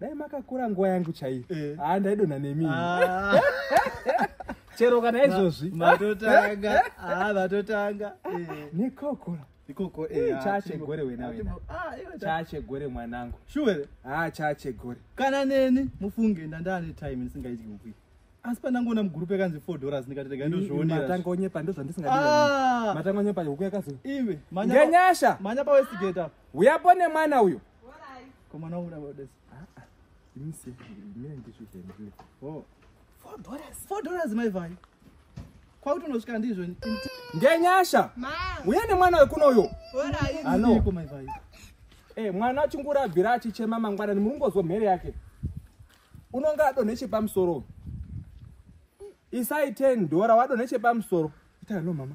dai makakura nguva yangu chaiyo eh. haa ah, ndaidonha nemi ah. chero kana izvozvi matotanga haa ah, vatotanga eh. nekokora ikoko eh, chachegore wenachachegore mwanangu shuwere haa chachegore kana neni mufunge ndandane time ndisingaiti kukwii asi pandangoona mugurupu yakanzi four dollars ndikati rega ndozvioneatangonyepa ndozvandisingamatangonyepa huku yakazi iwe ngenyasha manya pawestigate apo uyapo nemwana uyo Komana uda uda. Ah ah. Ini sih ini yang tisu temple. Oh. 4 dollars. 4 dollars mai vai. Kwa utu nosvika ndizvo. Ngenyasha. Ma. Uye ne mwana wekuno uyo. Alright. Ano. Ko mai vai. Eh mwana achingura abvira achichema mangwana ni murungo zwo mhere yake. Unonga adonhe chepamusoro. Isai 10 dollar wadonhe chepamusoro. Ita no mama.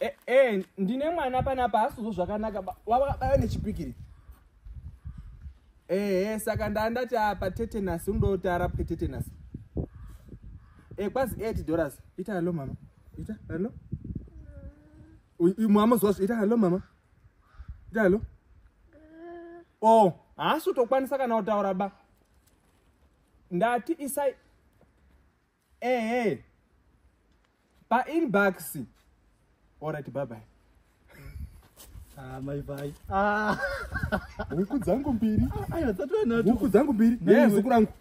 Eh, eh, ndine mwana panapa asizvo zvakanaka wavakabaya nechipikiri ehe eh, saka ndandati apa tetenasi unoda kuti arapwe tetenasi e eh, kwazi eight dollars ita hallo mama ita hallo mama zvazo ita hallo mama ita hallo o oh, haasi utokwanisa kana kutaura ba ndati isai ehe painbox orit babai maivai ah, ah. huku dzangu mbiri huku dzangu mbiri yezuku rangu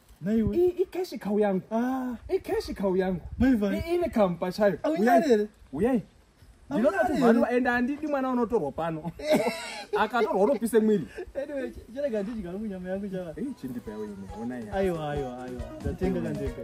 ikeshi kau yangu ah. ikeshi kau yangu ine kamu pachayo uyai ndinoda kuti mhani ende andidi mwana unotorwa pano akatorwa unopise mwiri chirega ndidya hangu nyama yangu chaa chindipa yawo ine ona aiwa aiwa aiwa ndatenga kandega